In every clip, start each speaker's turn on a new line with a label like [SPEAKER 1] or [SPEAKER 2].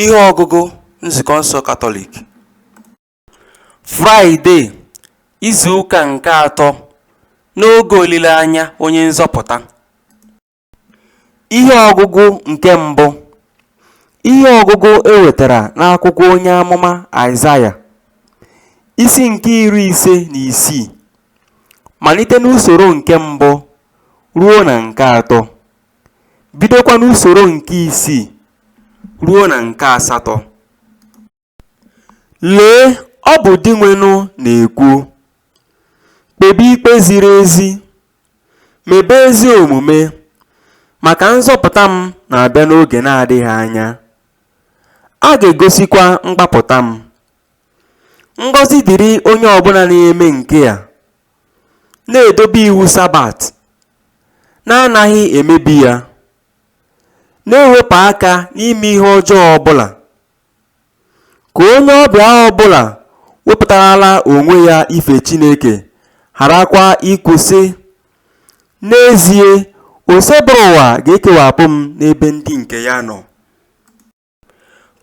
[SPEAKER 1] Ihe ọgụgụ Nzukọ nsọ Katọlik Fraịde izu ụka nke atọ n'oge olileanya onye nzọpụta Ihe ọgụgụ nke mbụ Ihe ọgụgụ e wetara n'akwụkwọ onye amụma Aịzaya isi nke iri ise na isii malite n'usoro nke mbụ ruo na nke atọ. bidokwa n'usoro nke isii ruo na nke asatọ lee ọ bụ dinwenụ na-ekwu kpebe ikpe ziri ezi mebe ezi omume maka nzọpụta m na-abịa n'oge na-adịghị anya a ga-egosikwa mgbapụta m ngọzi dịrị onye ọbụla na-eme nke a na-edobe iwu Sabat, na-anaghị emebi ya, na-ewepụ aka n'ime ihe ọjọọ ọ bụla. Ka onye ọbịa ọ bụla wepụtarala onwe ya ife Chineke gharakwa ikwu, sị, N'ezie, Osebụrụwa ga-ekewapụ m n'ebe ndị nke ya nọ.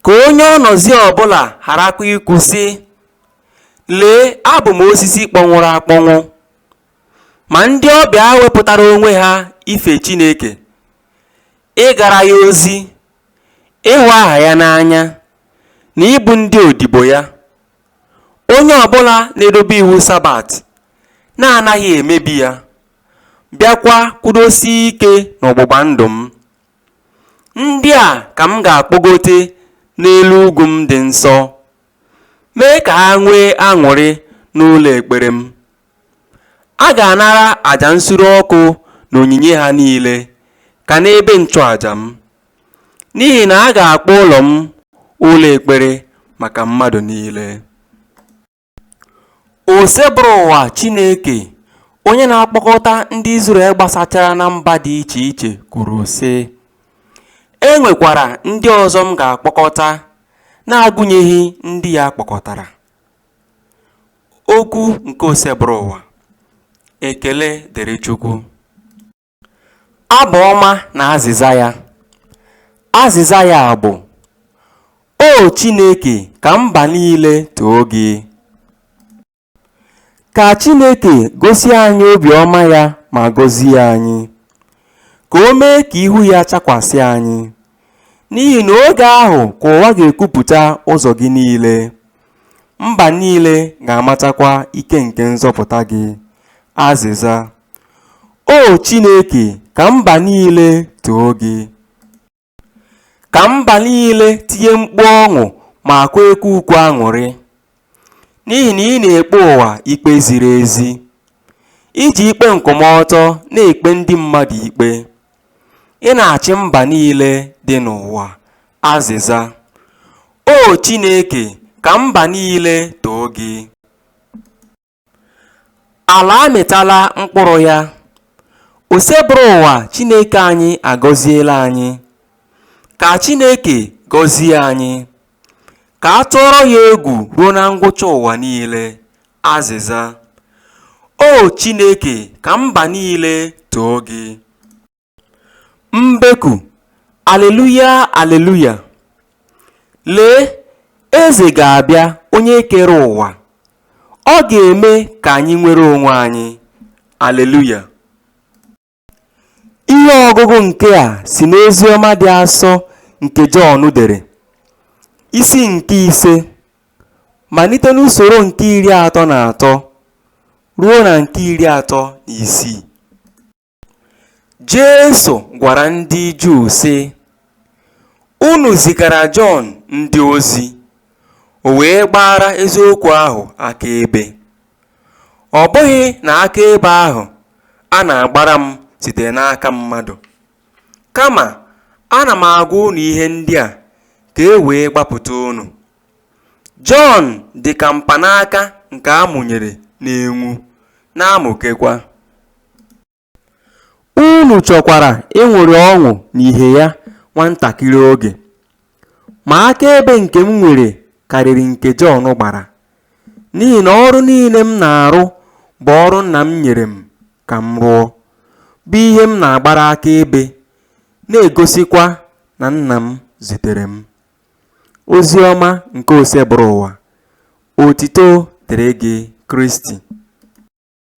[SPEAKER 1] Ka onye ọnọzi ọ bụla gharakwa ikwu sị, Lee, abụ m osisi kpọnwụrụ akpọnwụ. Ma ndị ọbịa wepụtara onwe ha ife Chineke, ịgara ya ozi, ịhụ aha ya n'anya, na ịbụ ndị odibo ya. Onye ọ bụla na-edobe iwu Sabat, na-anaghị emebi ya, bịakwa kwụdosie ike n'ọgbụgba ndụ m. Ndị a ka m ga-akpọgote n'elu ugwu m dị nsọ, mee ka ha nwee aṅụrị n'ụlọ ekpere m. A ga-anara aja nsure ọkụ na onyinye ha niile ka n'ebe nchụaja m, n'ihi na a ga-akpọ ụlọ m ụlọ ekpere maka mmadụ niile. Osebụrụwa Chineke, onye na-akpọkọta ndị Izrel gbasachara na mba dị iche iche, kwuru, sị, E nwekwara ndị ọzọ m ga-akpọkọta na-agụnyeghị ndị a kpọkọtara. Okwu nke Osebụrụwa. Ekele dịrị Chukwu. Abụ ọma na azịza ya. Azịza ya bụ, O Chineke, ka mba niile too gị. Ka Chineke gosi anyị obiọma ya ma gọzie anyị. Ka o mee ka ihu ya chakwasị anyị. N'ihi na oge ahụ ka ụwa ga-ekwupụta ụzọ gị niile. Mba niile ga-amatakwa ike nke nzọpụta gị. Azịza. O Chineke, ka mba niile too gị. Ka mba niile tinye mkpu ọṅụ makwa ekwe ukwe aṅụrị. N'ihi na ị na-ekpe ụwa ikpe ziri ezi. I ji ikpe nkwụmọtọ na-ekpe ndị mmadụ ikpe. Ị na-achị mba niile dị n'ụwa. Azịza O Chineke, ka mba niile too gị. Ala amịtala mkpụrụ ya. Osebụrụwa Chineke anyị agọziela anyị. Ka Chineke gọzie anyị. Ka a tụọrọ ya egwu ruo na ngwụcha ụwa niile. Azịza. O Chineke, ka mba niile too gị. Mbeku, Aleluya, Aleluya! Lee, Eze ga-abịa, Onye kere ụwa, Ọ ga-eme ka anyị nwere onwe anyị. Aleluya! Ihe ọgụgụ nke a si n'ozi ọma dị asọ nke Jọn dere, isi nke ise, malite n'usoro nke iri atọ na atọ ruo na nke iri atọ na isii. Jesu gwara ndị Juu, sị, Unu zigara Jọn ndị ozi, o wee gbaara eziokwu ahụ akaebe. Ọ bụghị na akaebe ahụ a na-agbara m site n'aka mmadụ, kama ana m agwa unu ihe ndị a ka e wee gbapụta unu. Jọn dị ka mpanaka nke a mụnyere na-enwu, na-amụkekwa. Unu chọkwara ịṅụrị ọṅụ n'ihe ya nwa ntakịrị oge. Ma akaebe nke m nwere karịrị nke Jọn gbara, n'ihi na ọrụ niile m na-arụ bụ ọrụ Nna m nyere m ka m rụọ, bụ ihe m na-agbara akaebe, na-egosikwa na Nna m zitere m. Ozi ọma nke Osebụrụwa. Otito dịrị gị, Kristi.